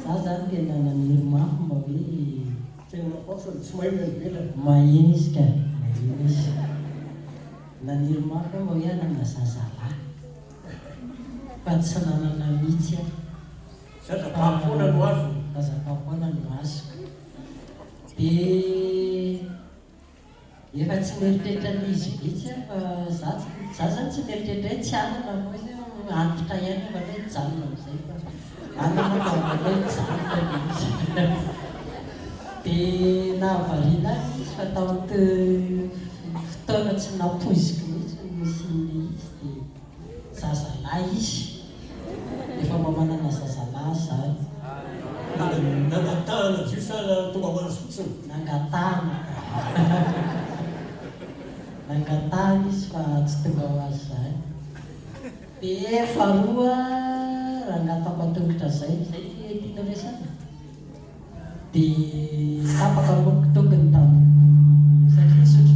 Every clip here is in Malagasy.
Za zany tena naniry mafy mba hoe. Tena matahotra no tsy mahay ny any ivelany. Maheno izy ka! Maheno izy. Naniry mafy aho mba hoe hanana zazalahy fa tsy nanana mitsy aho. Zaza fahapoana no azoko. Zaza fahapoana no azoko. Dia Efa tsy mieritreritra ny izy mihitsy aho fa za tsy, za zany tsy mieritreritra hoe tsy hanana koa izy hoe antitra ihany aho angamba hoe hijanona amizay fa hanana aho fa angamba hoe hijanona le izy de nahavariana ahy le izy fa tao amty fotoana tsy nampoiziko mihitsy ny nisian'le izy de. zazalahy izy efa mba manana zazalahy zany Nangatahana jus sa tonga ho azy fotsiny? Nangatahana Nangatahana izy fa tsy tonga ho azy zany Dia faharoa rangahy tapatongotra zay, zay ve tianao resaka? Dia tapaka amiko tongony tamin'ny satria nisotro.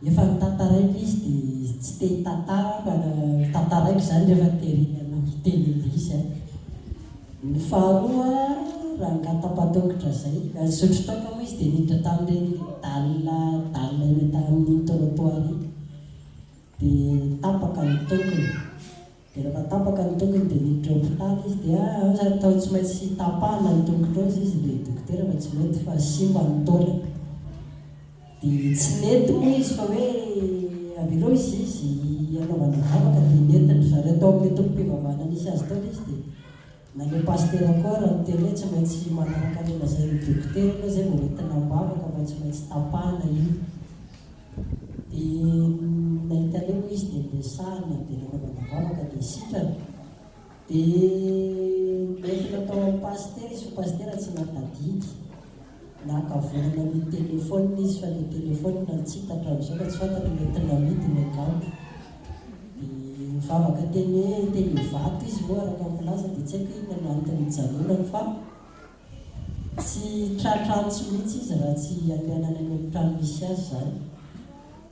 Efa nitantaraiko izy dia izy tsy te hitantara fa tantaraiko izany rehefa tery hanao hiteny indrisy aho. Ny faharoa rangahy tapadokotra izay, nisotro toaka moa izy dia niditra tamin'ireny dalina dalina eny an-tanin'iny trottoir iny dia tapaka ny tongony. Dia rehefa tapaka ny tongony dia niditra hopitaly izy dia natao tsy maintsy tapahana ny tongotra ao izy dia dokotera fa tsy mety fa simba ny taolany. Dia tsy nety moa izy fa hoe avelao izy izy hanaovana vavaka dia nentin-dry zareo tao amin'ny tobim-pivavahana nisy azy tao ilay izy dia Na le pasitera koa ara niteny hoe tsy maintsy manaraka ny lazain'ny dokotera aloha zay vao hoentina ambavaka fa tsy maintsy tapahana io de nahita an'io moa izy de niresahana de nanaovana vavaka de sitrana de nentina tao amin'ny pasitera izy fa pasitera tsy natadidy Naka vorona ny téléphone izy fa le téléphone natsipaka amizao ka tsy fantany hoe mety namidy ny angano. De nivavaka teny hoe teny vato izy moa araka ny filaza de tsy haiko inona no antony nijanonany fa tsy tratra antso mihitsy izy raha tsy avy any anany amtrano misy azy zany.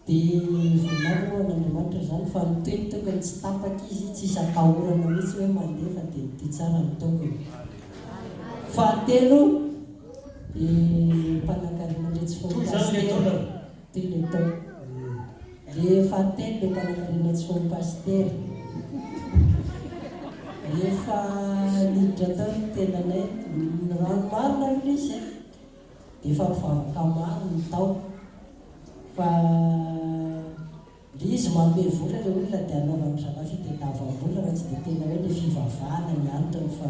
Dia volagniny ho an'Andriamanitra izany fa ny teny tokony tsy tapaka izy tsy hisy atahorana mihitsy hoe mandeha fa dia mitia tsara ny tompony. Fahatelo dia mpanankarena ndray tsy foiny pasitera ty le to le fahatelo dia mpanankarena tsy foiny pasitera rehefa niditra tao ny tenanay ny rano marina aloha izy e Efa mivavaka maro ny tao fa le izy manome vola le olona de anaovany drama fitediavam-bola raha tsy de tena hoe le fivavahana ny antony fa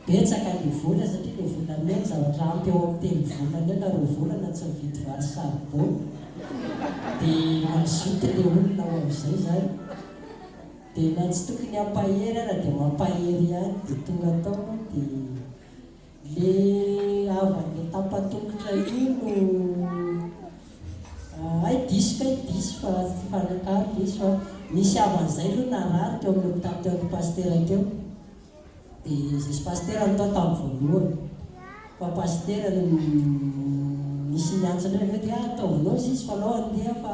betsaka le vola satria le volamena zavatra ampy eo am telo volana eo na roa volana tsy mividy vary sarbo de mazoto le olona ho avizay zany de na tsy tokony ampahery ara de mampahery ihany de tonga tao de Le havany tapatongotra io no hay diso kay diso fa tsy mifanakalo diso fa nisy havany zay aloha narary teo amin'ny hopitaly teo aloha pasitera teo de zay sy pasitera no tao tamin'ny voalohany fa pasitera no nisy ny antso ndray avy eo de ataovy nôzy izy fa anao andeha fa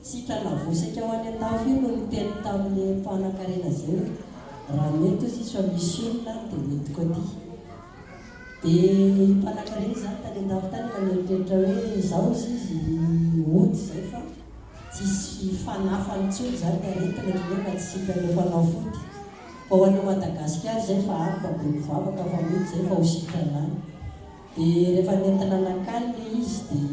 Sitrana navosika ho any an-dafy io no niteny tamin'ny mpanankarena izay hoe, Raha mety hozy izy fa misy olona any dia midiko aty. Dia io mpanankarena io zany tany an-dafy tany efa nieritreritra hoe zao hozy izy hody izay fa tsy hisy fanafany intsony izany ny aretina ohatran'ny hoe mba tsy sitrana efa nafody. Fa ho any Madagasikara izay fa any mba be mpivavaka fa mody izay fa ho sitrana any. Dia rehefa nentina nankany ilay izy dia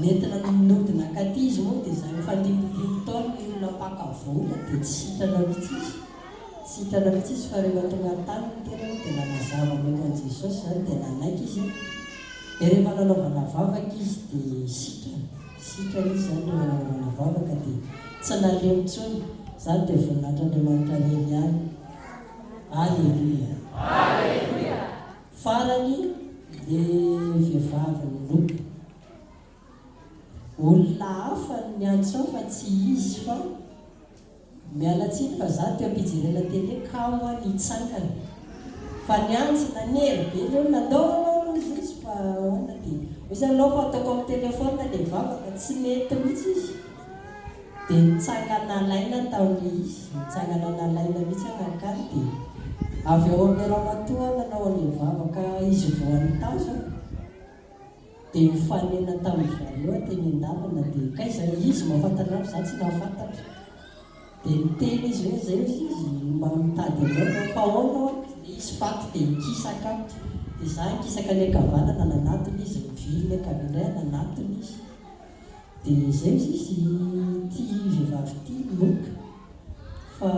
nentina nody nankaty izy moa dia izany efa antimpompolo taona ilay olona mpaka vola dia tsy sitrana mihitsy izy, tsy sitrana mihitsy izy fa rehefa tonga an-tany ny tena moa dia nanazava momba an'i Jesosy izany dia nanaiky izy dia rehefa nanaovana vavaka izy dia sitrana, sitrana izy izany rehefa nanaovana vavaka dia tsy nalemy intsony, izany dia voninahitr' Andriamanitra irery ihany. Aleloia. Aleloia. Farany le vehivavy niroby. Olona hafa no niantso ahy fa tsy izy fa miala tsiny fa za teo am-pijerena télé kamo aho nitsangana fa niantso nanery be le olona ndao anao aloha mizoso fa ahoana dia hoy izy aleo fa ataoko amin'ny téléphone le vavaka tsy nety mihitsy izy. dia nitsanga nalaina taorian izy nitsangana nalaina mihitsy an Akany dia avy ao amin ny ramatoa nanao an ilay vavaka izy vao an tazana dia nifanena tamin dry zareo an teny an dalana dia kay zay izy mahafantatra an'azy za tsy nahafantatra dia niteny izy hoe zay ozy izy mba mitady an'zao zao fa aona oa dia izy faty dia nikisaka dia za nikisaka ny ankavanana nanatona izy ny viliny ankaviana nanatona izy dia izay izy izy tia vehivavy ity Luc fa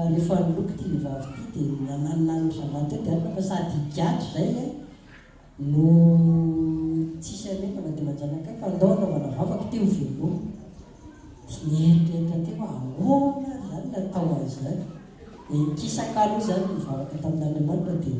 rehefa Luc ity vehivavy ity dia nananona ny zalahy teo dia alina fa sady higadra izay e no tsisy alina na dia manjanaka ahy fa andao hanaovana vavaka ity ho veloma dia nieritreritra teo hoe ahoana ary izany no atao an'izany dia nikisaka aloha izany nivavaka tamin'Andriamanitra dia